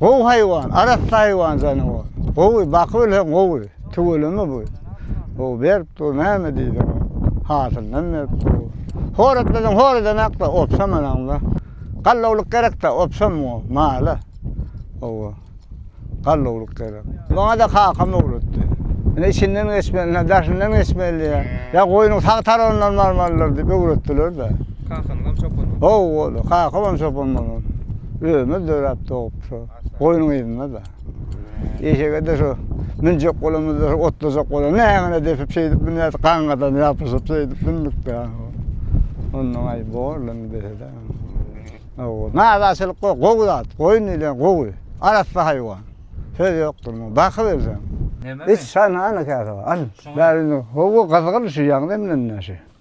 Gowy haýwan, arassa haýwan janawar. Gowy, bakybilseň gowy. Tüweleme bu. Gowy berip dur, näme diýseň. Hasylynam berip dur. Horatlasaň horadanakda, opsa manaňda. Gallawlyk gerekde, opsa muňa, mala. Gowy. Gallawlyk gerek. Maňa-da kakam öwretdi. Ine içinden geçmeli, daşyndan geçmeli diýýär. Ýa goýnuň sag tarabyndan barmalydyr diýip öwretdiler-de. Kakanyň hem çopan boldy. Haw boldy. Kakam hem çopan bolan. Özümiz döräp dogup şu goýnuň yzynda-da. Eşege-de şu münjek bolamyzda şu otlajak bolan nägine depip şeýdip münýärdik, gaňňadan ýapyşyp şeýdip mündük-de. Onnoň aý borlamy dese-de. Haw, naraçylyk ýok, gowy zat. Goýun diýlen gowy, arassa haýwan. Söz ýokdur muňa. Bakyp ölseň. Nememi? Iç, şa nana käse bar. Al. Şuňa. Bäri indi. Haw, gyzgyn şu ýaňy demlenenä şu.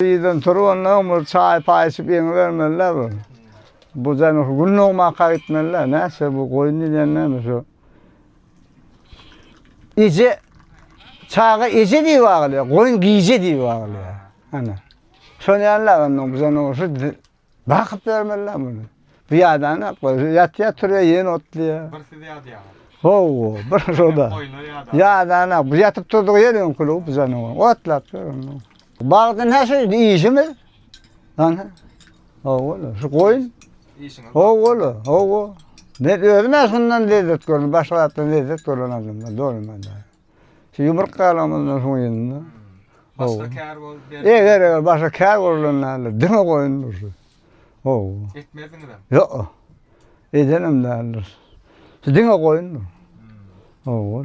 Birden turup onnoň bir çaý paý içip ýeňi bermelidä bu. Bu janyh gün dogmaka gitmelidä näçe bu goýun diýýän näme şu. Eje çaga eje diýip agylýar, goýun gije diýip agylýar. Hany. Şony ýaly onnoň bu janyh şu Bakyp bermeliler muny. Bu ýadan ýatýa turýa ýen otlaýa. Bir siz ýadýaňyz. Ho, bir şoda. Ýadan bu ýatyp turdygy ýer öňki lup bizäni otlap ýörün. Bagdan her şey işimi. Ana. Owola, şu goýun. Işiňiz. Owola, owo. Ne özüm şundan lezzet gördüm, başga zatdan lezzet gören adamlar dolmaýar. Şu ýumruk galamyndan soň indi. Başga kär bolup ber. Eger eger başga kär bolan däldir. Diňe goýun dursun. Haw. Etmezdiňizem. Ýok. Edenem däldir. Şu diňe goýundyr. Haw.